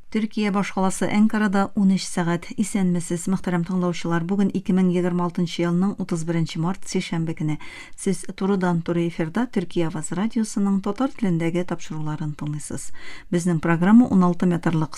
Төркия башкаласы Әнкарада унөч сәгать. Исәнмесез, мөхтәрәм тыңлаучылар! Бүген 2026 елның 31 март, сишәмбе көне. Сез турыдан-туры эфирда Төркия авазы радиосының татар телендәге тапшыруларын тыңлыйсыз. Безнең программа 16 метрлык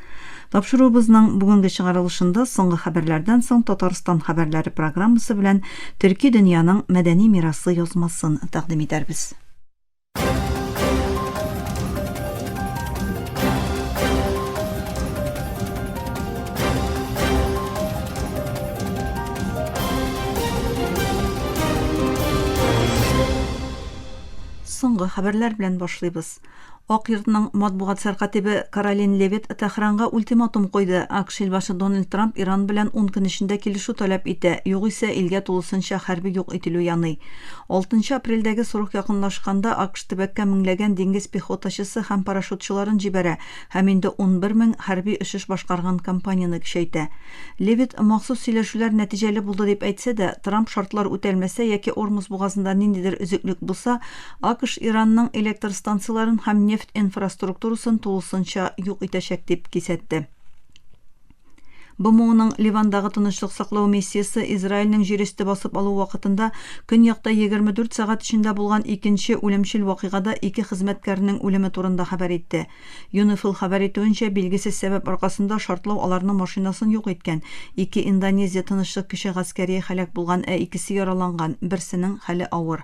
Тапшыруыбызның бүгенге чыгарылышында соңгы хәбәрләрдән соң Татарстан хәбәрләре программасы белән төрки дөньяның мәдәни мирасы язмасын тәкъдим итәрбез. Соңгы хәбәрләр белән башлыйбыз. Ак йортның матбугат сәркатибе Каролин Левит Тәһранга ультиматум куйды, АКШ илбашы Дональд Трамп Иран белән ун көн эчендә килешү таләп итә, югыйсә илгә тулысынча хәрби юк ителү яный. Алтынчы апрельдәге срок якынлашканда АКШ төбәккә меңләгән диңгез пехотачысы һәм парашютчыларын җибәрә һәм инде унбер мең хәрби очыш башкарган компанияне көчәйтә. Левит махсус сөйләшүләр нәтиҗәле булды дип әйтсә дә, Трамп шартлар үтәлмәсә яки Ормус бугазында ниндидер өзеклек булса, АКШ Иранның электр станцияләрен һәм нефть инфраструктурасын тулысынча юк итәчәк дип кисәтте. БМОның Ливандагы тынычлык саклау миссиясе Израильнең җирөсте басып алу вакытында көньякта 24 сәгать эчендә булган икенче үлемчел вакыйгада ике хезмәткәрнең үлеме турында хәбәр итте. ЮНИФИЛ хәбәр итүенчә, билгесез сәбәп аркасында шартлау аларның машинасын юк иткән. Ике Индонезия тынычлык кичә гаскәрие һәлак булган, ә икесе яраланган, берсенең хәле авыр.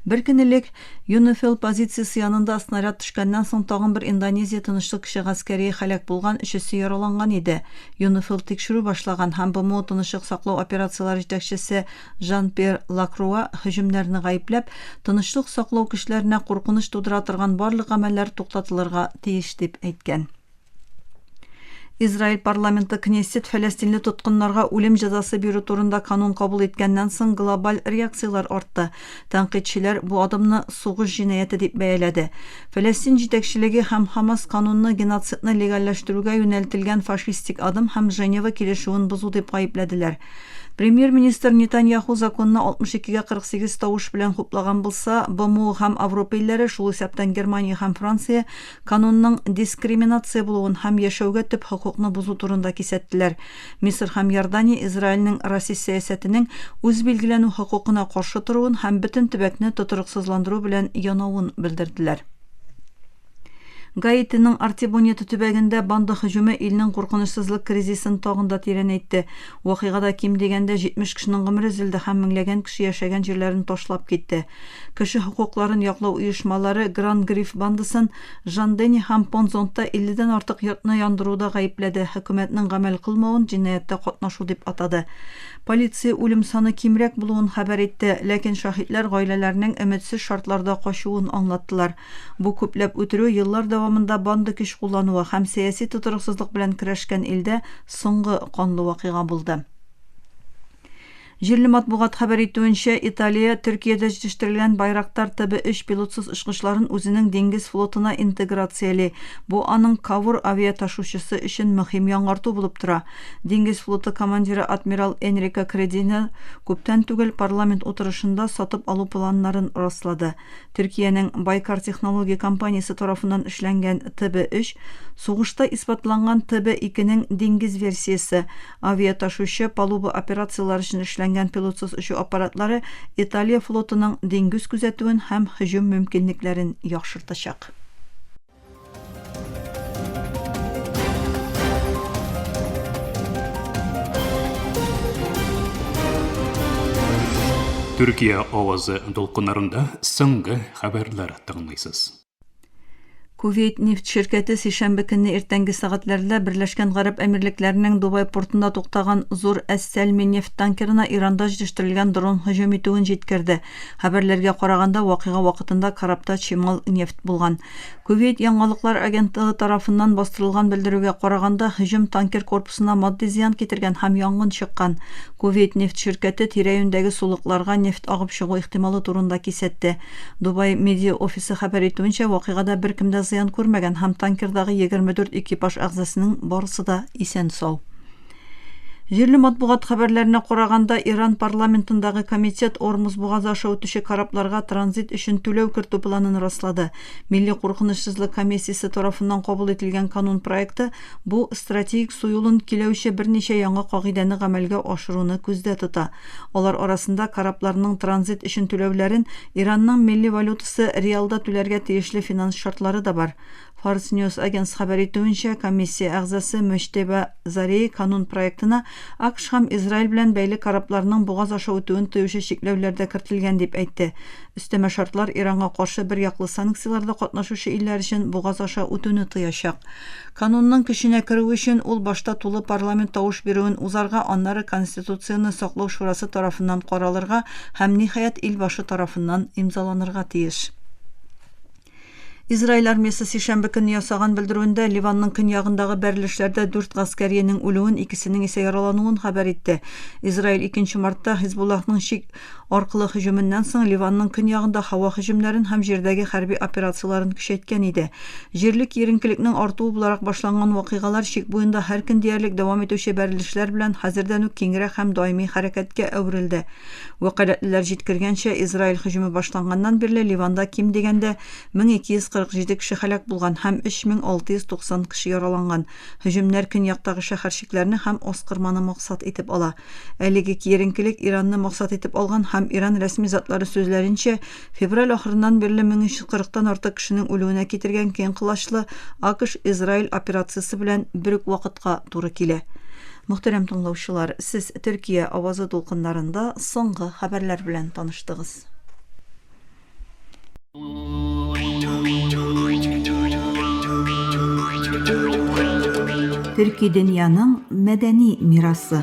Бер көн элек ЮНИФИЛ позициясе янында снаряд төшкәннән соң тагын бер Индонезия тынычлык кичә гаскәрие һәлак булган, өчесе яраланган иде. ЮНИФИЛ тикшерү башлаган һәм БМО тынычлык саклау операцияләре җитәкчесе Жан-Пьер Лакруа һөҗүмнәрне гаепләп, тынычлык саклау көчләренә куркыныч тудыра торган барлык гамәлләр туктатылырга тиеш дип әйткән. Израиль парламенты Кнессет фәләстинле тоткыннарга үлем җәзасы бирү турында канун кабул иткәннән соң глобаль реакцияләр артты. Тәнкыйтьчеләр бу адымны сугыш җинаяте дип бәяләде. Фәләстин җитәкчелеге һәм Хамас канунны геноцидны легальләштерүгә юнәлтелгән фашистик адым һәм Женева килешүен бозу дип гаепләделәр. Премьер-министр Нетаньяху законны 62 гә 48 тавыш белән хуплаган булса, БМО һәм Авропа илләре, шул исәптән Германия һәм Франция, Канунның дискриминация булуын һәм яшәүгә төп хокукны бозу турында кисәттеләр. Мисыр һәм Иордания Израильнең расист сәясәтенең үз билгеләнү хокукына каршы торуын һәм бөтен төбәкне тотрыксызландыру белән янавын белдерделәр. Гаитиның Артибонито төбәгендә банда һөҗүме илнең куркынычсызлык кризисын тагын да тирәнәйтте. Вакыйгада ким дигәндә 70 кешенең гомере өзелде һәм меңләгән кеше яшәгән җирләрен ташлап китте. Кеше хокукларын яклау оешмалары Гран Гриф бандасын Жан-Дени һәм Понт-Зонтта 50 дән артык йортны яндыруда гаепләде, хөкүмәтнең гамәл кылмавын җинаятьтә катнашу дип атады. Полиция үлем саны кимрәк булуын хәбәр итте, ләкин шаһитләр гаиләләренең өметсез шартларда качуын аңлаттылар. Бу күпләп үтерү еллар дәвамында банда көч куллануы һәм сәяси тотрыксызлык белән көрәшкән илдә соңгы канлы вакыйга булды. Җирле матбугат хәбәр итүенчә, Италия Төркиядә җитештерелгән Байрактар ТБ-3 пилотсыз очкычларын үзенең диңгез флотына интеграцияли. Бу аның Кавур авиаташучысы өчен мөһим яңарту булып тора. Диңгез флоты командиры адмирал Энрико Кредино күптән түгел парламент утырышында сатып алу планнарын раслады. Төркиянең Байкар технология компаниясе тарафыннан эшләнгән ТБ-3, сугышта исбатланган ТБ-2нең диңгез версиясе, авиаташучы, палуба операцияләре өчен эшләнгән пилотсыз очу аппаратлары Италия флотының диңгүз күзәтүен һәм һөҗүм мөмкинлекләрен яхшыртачак. Төркия авазы дулкыннарында соңгы хәбәрләр тыңлыйсыз. Кувейт нефть ширкәте сишәмбе көнне иртәнге сәгатьләрдә Берләшкән Гарәп Әмирлекләренең Дубай портында туктаган зур Әс-Сәлми нефть танкерына Иранда җитештерелгән дрон һөҗүм итүен җиткерде. Хәбәрләргә караганда, вакыйга вакытында корабта чимал нефть булган. Кувейт яңалыклар агентлыгы тарафыннан бастырылган белдерүгә караганда, һөҗүм танкер корпусына матди зыян китергән һәм янгын чыккан. Кувейт нефть ширкәте тирә-юньдәге сулыкларга нефть агып чыгу ихтималы турында кисәтте. Дубай медиа офисы хәбәр итүенчә, вакыйгада беркем дә зыян күрмәгән һәм танкердагы егерме дүрт экипаж әгъзасының барысы да исән-сау. Җирле матбугат хәбәрләренә караганда, Иран парламентындагы комитет Ормуз бугазы аша үтүче корабларга транзит өчен түләү кертү планын раслады. Милли куркынычсызлык комиссиясе тарафыннан кабул ителгән канун проекты бу стратегик су юлын киләүче берничә яңа кагыйдәне гамәлгә ашыруны күздә тота. Алар арасында корабларның транзит өчен түләүләрен Иранның милли валютасы риалда түләргә тиешле финанс шартлары да бар. Фарс Ньюс Агенс хәбәр итүенчә, комиссия әгъзасы Мөҗтәба Зари канун проектына АКШ һәм Израиль белән бәйле корабларның бугаз аша үтүен тыючы чикләүләр дә кертелгән дип әйтте. Өстәмә шартлар Иранга каршы бер яклы санкцияләрдә катнашучы илләр өчен бугаз аша үтүне тыячак. Канунның көченә керүе өчен ул башта тулы парламент тавыш бирүен узарга, аннары Конституцияне саклау шурасы тарафыннан каралырга һәм, ниһаять, ил башы тарафыннан имзаланырга тиеш. Израиль армиясе сишәмбе көнне ясаган белдерүендә Ливанның көньягындагы бәрелешләрдә дүрт гаскәриенең үлүен, икесенең исә яралануын хәбәр итте. Израиль 2 мартта Хизбуллахның чик аркылы һөҗүменнән соң Ливанның көньягында һава һөҗүмнәрен һәм җирдәге хәрби операцияләрен көчәйткән иде. Җирле киеренкелекнең артуы буларак башланган вакыйгалар чик буенда һәр көн диярлек дәвам итүче бәрелешләр белән хәзердән үк киңрәк һәм даими хәрәкәткә әверелде. Вәкаләтлеләр җиткергәнчә, Израиль һөҗүме башланганнан бирле Ливанда ким дигәндә 1247 кеше һәлак булган һәм 3690 кеше яраланган. Һөҗүмнәр көньяктагы шәһәрчекләрне һәм Аскорманы максат итеп ала. Әлеге киеренкелек Иранны максат итеп алган һәм Иран рәсми затлары сүзләренчә, Февраль ахырыннан бирле 1340 тан артык кешенең үлүенә китергән киң колачлы АКШ-Израиль операциясе белән бер үк вакытка туры килә. Мөхтәрәм тыңлаучылар, сез Төркия авазы дулкыннарында соңгы хәбәрләр белән таныштыгыз. Төрки дөньяның мәдәни мирасы.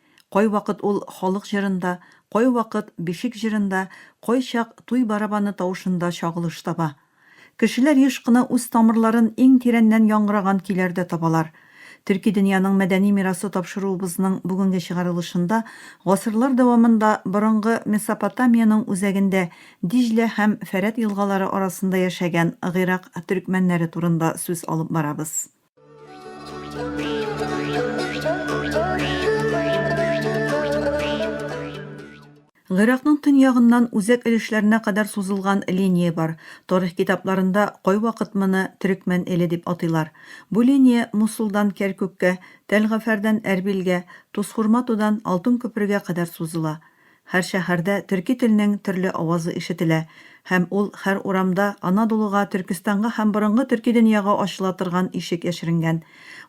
Кайвакыт ул халык җырында, кайвакыт бишек җырында, кайчак туй барабаны тавышында чагылыш таба. Кешеләр еш кына үз тамырларын иң тирәннән яңгыраган көйләрдә табалар. Төрки дөньяның мәдәни мирасы тапшыруыбызның бүгенге чыгарылышында гасырлар дәвамында борынгы Месопотамиянең үзәгендә Диҗлә һәм Фәрәт елгалары арасында яшәгән гыйрак төрекмәннәре турында сүз алып барабыз. Гыйракның төньягыннан үзәк өлешләренә кадәр сузылган линия бар. Тарих китапларында кайвакыт моны Төрекмән эле дип атыйлар. Бу линия Мусулдан Кәркүккә, Тәлгафәрдән Әрбилгә, Тусхурматудан Алтын күпергә кадәр сузыла. Һәр шәһәрдә төрки телнең төрле авазы ишетелә һәм ул хәр урамда Анадолуга, Төркестанга һәм борынгы төрки дөньяга ачыла торган ишек яшеренгән.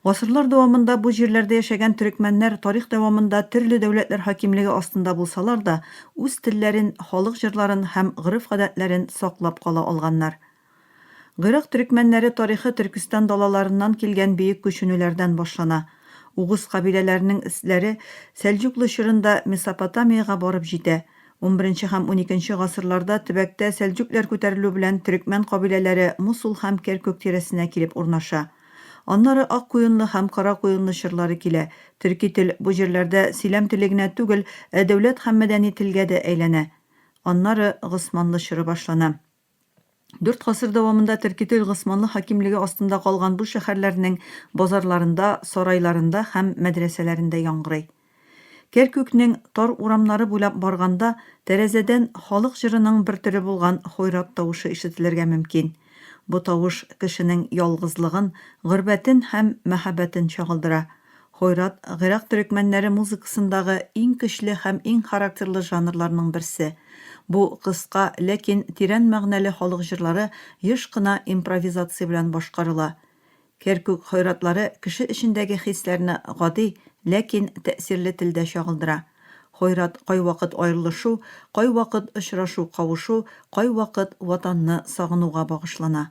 Гасырлар дәвамында бу җирләрдә яшәгән төрекмәннәр тарих дәвамында төрле дәүләтләр хакимлеге астында булсалар да, үз телләрен, халык җырларын һәм гореф-гадәтләрен саклап кала алганнар. Гыйрак төрекмәннәре тарихы Төркестан далаларыннан килгән бөек күченүләрдән башлана. Угуз кабиләләренең эзләре Сәлҗуклы чорында Месопотамиягә барып җитә. Унберенче һәм уникенче гасырларда төбәктә сәлҗүкләр күтәрелү белән төрекмән кабиләләре Мусул һәм Керкүк тирәсенә килеп урнаша. Аннары Аккуенлы һәм Каракуенлы чорлары килә. Төрки тел бу җирләрдә сөйләм теле генә түгел, ә дәүләт һәм мәдәни телгә дә әйләнә. Аннары Госманлы чоры башлана. Дүрт гасыр дәвамында Теркетел Госманлы хакимлеге астында калган бу шәһәрләрнең базарларында, сарайларында һәм мәдрәсәләрендә яңгырый. Керкүкнең тар урамнары буйлап барганда, тәрәзәдән халык җырының бер төре булган хойрат тавышы ишетелергә мөмкин. Бу тавыш кешенең ялгызлыгын, горбәтен һәм мәһабәтен чагылдыра. Хойрат, гыйрак төрекмәннәре музыкасындагы иң көчле һәм иң характерлы жанрларның берсе. Бу кыска, ләкин тирән мәгънәле халык җырлары еш кына импровизация белән башкарыла. Керкүк хойратлары кеше эчендәге хисләрне гади, ләкин тәэсирле телдә чагылдыра. Хойрат кайвакыт аерылышу, кайвакыт очрашу-кавышу, кайвакыт Ватанны сагынуга багышлана.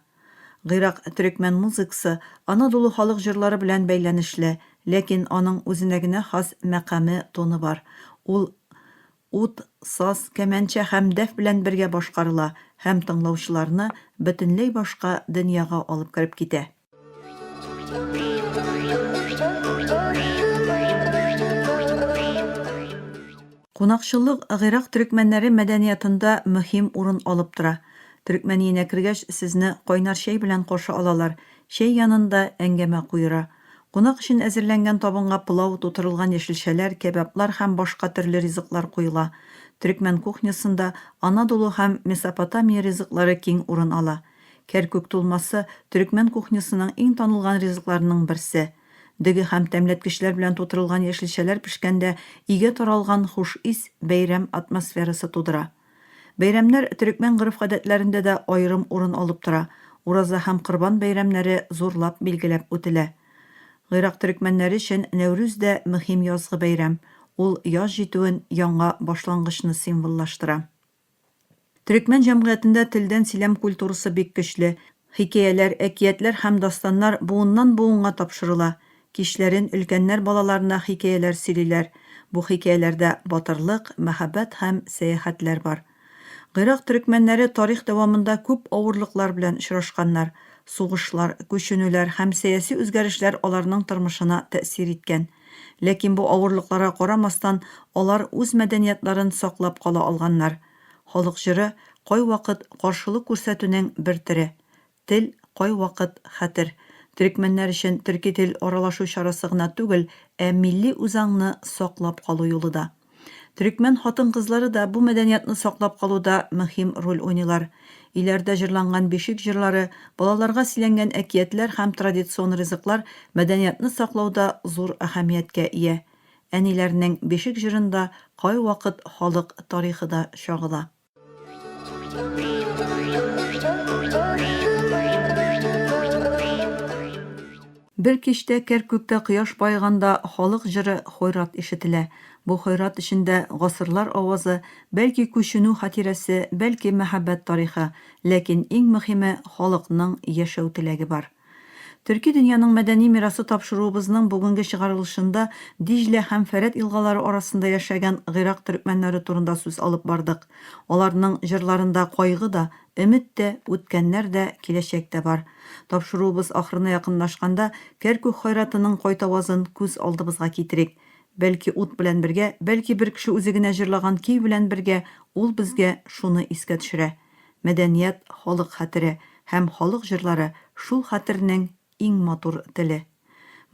Гыйрак төрекмән музыкасы Анадолу халык җырлары белән бәйләнешле, ләкин аның үзенә генә хас мәкаме, тоны бар. Ул ут, саз, кәмәнчә һәм дәф белән бергә башкарыла һәм тыңлаучыларны бөтенләй башка дөньяга алып кереп китә. Кунакчыллык гыйрак төрекмәннәре мәдәниятында мөһим урын алып тора. Төрекмәниенә кергәч, сезне кайнар чәй белән каршы алалар, чәй янында әңгәмә куера. Кунак өчен әзерләнгән табынга пылау, тутырылган яшелчәләр, кәбаблар һәм башка төрле ризыклар куела. Төрекмән кухнясында Анадолу һәм Месопотамия ризыклары киң урын ала. Кәркүк тулмасы, төрекмән кухнясының иң танылган ризыкларының берсе. Дөге һәм тәмләткечләр белән тутырылган яшелчәләр пешкәндә өйгә таралган хуш ис бәйрәм атмосферасы тудыра. Бәйрәмнәр төрекмән гореф-гадәтләрендә дә аерым урын алып тора, Ураза һәм Корбан бәйрәмнәре зурлап билгеләп үтелә. Гыйрак төрекмәннәре өчен Нәүрүз дә мөһим язгы бәйрәм, ул яз җитүен, яңа башлангычны символлаштыра. Төрекмән җәмгыятендә телдән сөйләм культурасы бик көчле. Хикәяләр, әкиятләр һәм дастаннар буыннан-буынга тапшырыла. Кичләрен өлкәннәр балаларына хикәяләр сөйлиләр. Бу хикәяләрдә батырлык, мәхәббәт һәм сәяхәтләр бар. Гыйрак төрекмәннәре тарих дәвамында күп авырлыклар белән очрашканнар. Сугышлар, күченүләр һәм сәяси үзгәрешләр аларның тормышына тәэсир иткән. Ләкин бу авырлыкларга карамастан, алар үз мәдәниятларын саклап кала алганнар. Халык җыры кайвакыт каршылык күрсәтүнең бер төре. Тел, кайвакыт, хәтер. Төрекмәннәр өчен төрки тел аралашу чарасы гына түгел, ә милли үзаңны саклап калу юлы да. Төрекмән хатын-кызлары да бу мәдәниятны саклап калуда мөһим роль уйныйлар. Өйләрдә җырланган бишек җырлары, балаларга сөйләнгән әкиятләр һәм традицион ризыклар мәдәниятны саклауда зур әһәмияткә ия. Әниләрнең бишек җырында кайвакыт халык тарихы да чагыла. Бер кичтә Кәркүктә кояш баеганда халык җыры Хойрат ишетелә. Бу Хойрат эчендә гасырлар авазы, бәлки күченү хатирәсе, бәлки мәхәббәт тарихы, ләкин иң мөхиме халыкның яшәү теләге бар. Төрки дөньяның мәдәни мирасы тапшыруыбызның бүгенге чыгарылышында Диҗлә һәм Фәрәт елгалары арасында яшәгән гыйрак төрекмәннәре турында сүз алып бардык. Аларның җырларында кайгы да, өмет тә, үткәннәр дә, киләчәк тә бар. Тапшыруыбыз ахырына якынлашканда Кәркүк Хайратының кайтавазын күз алдыбызга китерик. Бәлки ут белән бергә, бәлки бер кеше үзе генә җырлаган көй белән бергә ул безгә шуны искә төшерә. Мәдәният, халык хәтере һәм халык җырлары шул хәтернең иң матур теле.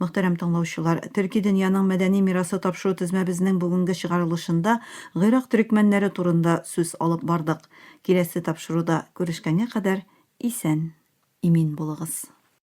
Мөхтәрәм тыңлаучылар, Төрки дөньяның мәдәни мирасы тапшыру тезмәбезнең бүгенге чыгарылышында Гыйрак төрекмәннәре турында сүз алып бардык. Киләсе тапшыруда күрешкәнгә кадәр исән, имин булыгыз.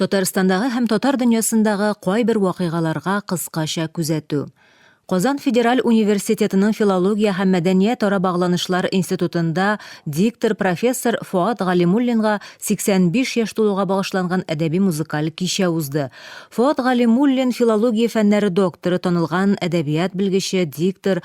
Татарстандагы һәм татар дөньясындагы кайбер вакыйгаларга кыскача күзәтү. Казан федераль университетының филология һәм мәдәният ара багланышлар институтында диктор профессор Фоат Галимуллинга 85 яшь тулуга багышланган әдәби музыкаль кичә узды. Фоат Галимуллин филология фәннәре докторы, танылган әдәбият белгече, диктор,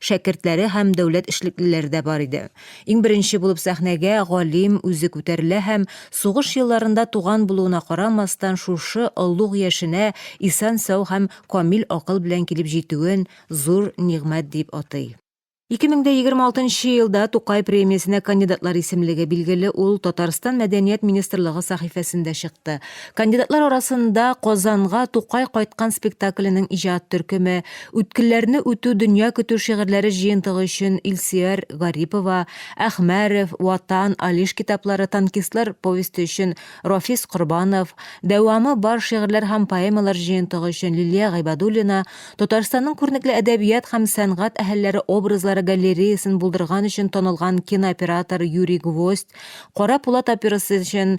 шәкертләре һәм дәүләт эшлеклеләре дә бар иде. Иң беренче булып сәхнәгә галим үзе күтәрелә һәм, сугыш елларында туган булуына карамастан, шушы олуг яшенә исән-сау һәм камил акыл белән килеп җитүен зур нигъмәт дип атый. 2026 нчы елда Тукай премиясенә кандидатлар исемлеге, билгеле, ул Татарстан Мәдәният министрлыгы сәхифәсендә чыкты. Кандидатлар арасында Казанга Тукай кайткан спектакленең иҗат төркеме, Үткелләрне үтү дөнья көтү шигырьләре җыентыгы өчен Илсөяр Гарипова, Әхмәрев, Ватан, Алиш китаплары, Танкистлар повесте өчен Рафис Корбанов, Дәвамы бар шигырьләр һәм поэмалар җыентыгы өчен Лилия Гыйбадуллина, Татарстанның күренекле әдәбият һәм сәнгать әһелләре образлары галереясын булдырган өчен танылган кинооператор Юрий Гвоздь, Кара Пулат операсы өчен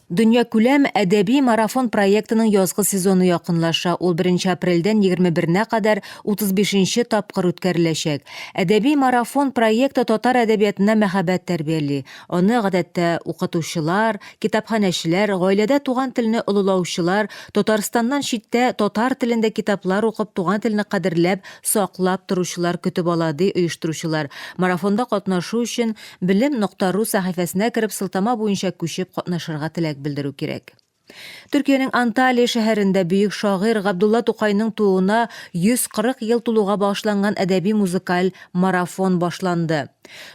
Дөньякүләм әдәби марафон проектының язгы сезоны якынлаша. Ул 1 апрельдән 21-нә кадәр 35-нче тапкыр үткәреләчәк. Әдәби марафон проекты татар әдәбиятына мәхәббәт тәрбияли. Аны, гадәттә, укытучылар, китапханәчеләр, гаиләдә туган телне олылаучылар, Татарстаннан читтә татар телендә китаплар укып, туган телне кадерләп, саклап торучылар көтеп ала, ди оештыручылар. Марафонда катнашу өчен, Белем нокта ру сәхифәсенә кереп сылтама буенча күчеп катнашырга теләк белдерү кирәк. Төркиянең Анталия шәһәрендә бөек шагыйрь Габдулла Тукайның тууына 140 ел тулуга багышланган әдәби-музыкаль марафон башланды.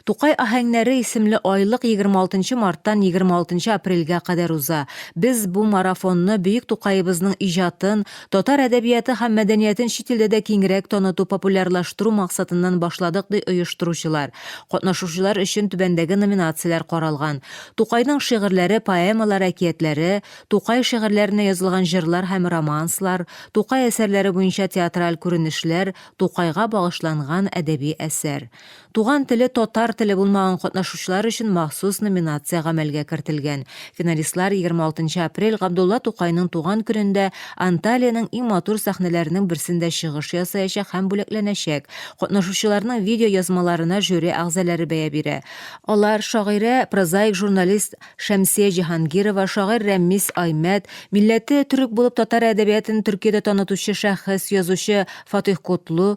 Тукай аһәңнәре исемле айлык 26 марттан 26 апрельгә кадәр уза. Без бу марафонны бөек Тукаебызның иҗатын, Татар әдәбияты һәм мәдәниятен чит илдә дә киңрәк таныту, популярлаштыру максатыннан башладык, ди оештыручылар. Катнашучылар өчен түбәндәге номинацияләр каралган, Тукайның шигырьләре, поэмалар, әкиятләре, Тукай шигырьләренә язылган җырлар һәм романслар, Тукай әсәрләре буенча театраль күренешләр, Тукайга багышланган әдәби әсәр. Туган теле татар теле булмаган катнашучылар өчен махсус номинация гамәлгә кертелгән. Финалистлар 26 апрель Габдулла Тукайның туган көнендә Анталиянең иң матур сәхнәләренең берсендә чыгыш ясаячак һәм бүләкләнәчәк. Катнашучыларның видеоязмаларына жюри әгъзаләре бәя бирә. Алар, шагыйрә, прозаик журналист Шәмсия Җиһангирова, шагыйрь Рәмис Аймәт, милләте төрек булып татар әдәбиятын Төркиядә танытучы шәхес, язучы Фатыйх Котлу,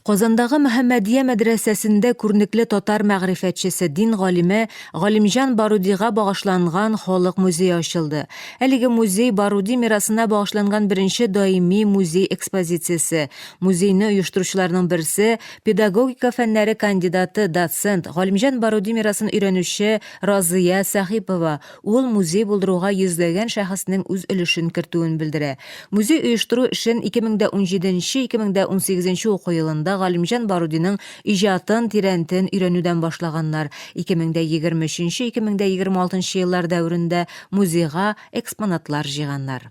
Казандагы Мөхәммәдия мәдрәсәсендә күрнекле татар мәгърифәтчесе, дин галиме Галимҗан Барудига багышланган халык музее ачылды. Әлеге музей Баруди мирасына багышланган беренче даими музей экспозициясе. Музейны оештыручыларның берсе, педагогика фәннәре кандидаты, доцент, Галимҗан Баруди мирасын өйрәнүче Разыя Сәхипова, Ул музей булдыруга йөзләгән шәхеснең үз өлешен кертүен белдерә. Музей оештыру эшен 2017 нче 2018 нче уку елында Галимҗан Барудиның иҗатын тирәнтен өйрәнүдән башлаганнар, 2023 нче 2026 нчы еллар дәверендә музейга экспонатлар җыйганнар.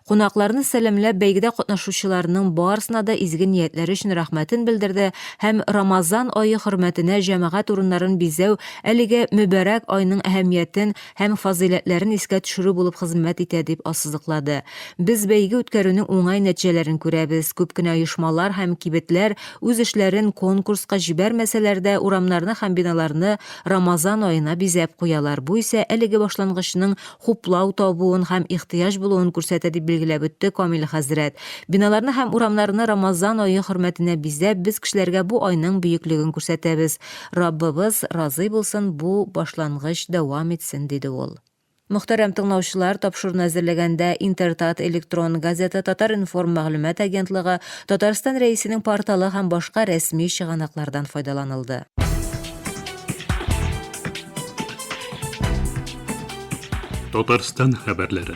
Кунакларны сәламләп, бәйгедә катнашучыларның барысына да изге ниятләре өчен рәхмәтен белдерде һәм Рамазан ае хөрмәтенә җәмәгать урыннарын бизәү әлеге мөбарәк айның әһәмиятен һәм фазыйләтләрен искә төшерү булып хезмәт итә дип ассызыклады. Без бәйге үткәрүнең уңай нәтиҗәләрен күрәбез, күп кенә оешмалар һәм кибетләр үз эшләрен конкурска җибәрмәсәләр дә, урамнарны һәм биналарны Рамазан аена бизәп куялар, бу исә әлеге башлангычның хуплау табуын һәм ихтыяҗ булуын күрсәтә, дип билгеләп үтте Камил хәзрәт. Биналарны һәм урамнарны Рамазан ае хөрмәтенә бизәп, без кешеләргә бу айның бөеклеген күрсәтәбез. Раббыбыз разый булсын, бу башлангыч дәвам итсен, диде ул. Мөхтәрәм тыңлаучылар, тапшыруны әзерләгәндә Интертат электрон газета, Татар-информ мәгълүмат агентлыгы, Татарстан Рәисенең порталы һәм башка рәсми чыганаклардан файдаланылды. Татарстан хәбәрләре.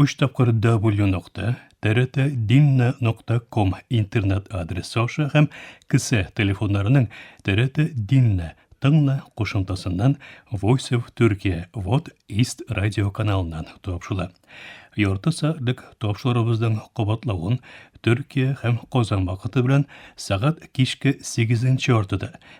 Өч тапкыр W нокта, TRT Dinna нокта ком интернет адресы аша һәм кесә телефоннарының TRT Dinna тыңна кушымтасыннан Voice of Turkey Вот East радио каналыннан тапшыла. Ярты сәгатьлек тапшырыбызның кабатлавын Төркия һәм Казан вакыты белән сәгать кичке 8 яртыда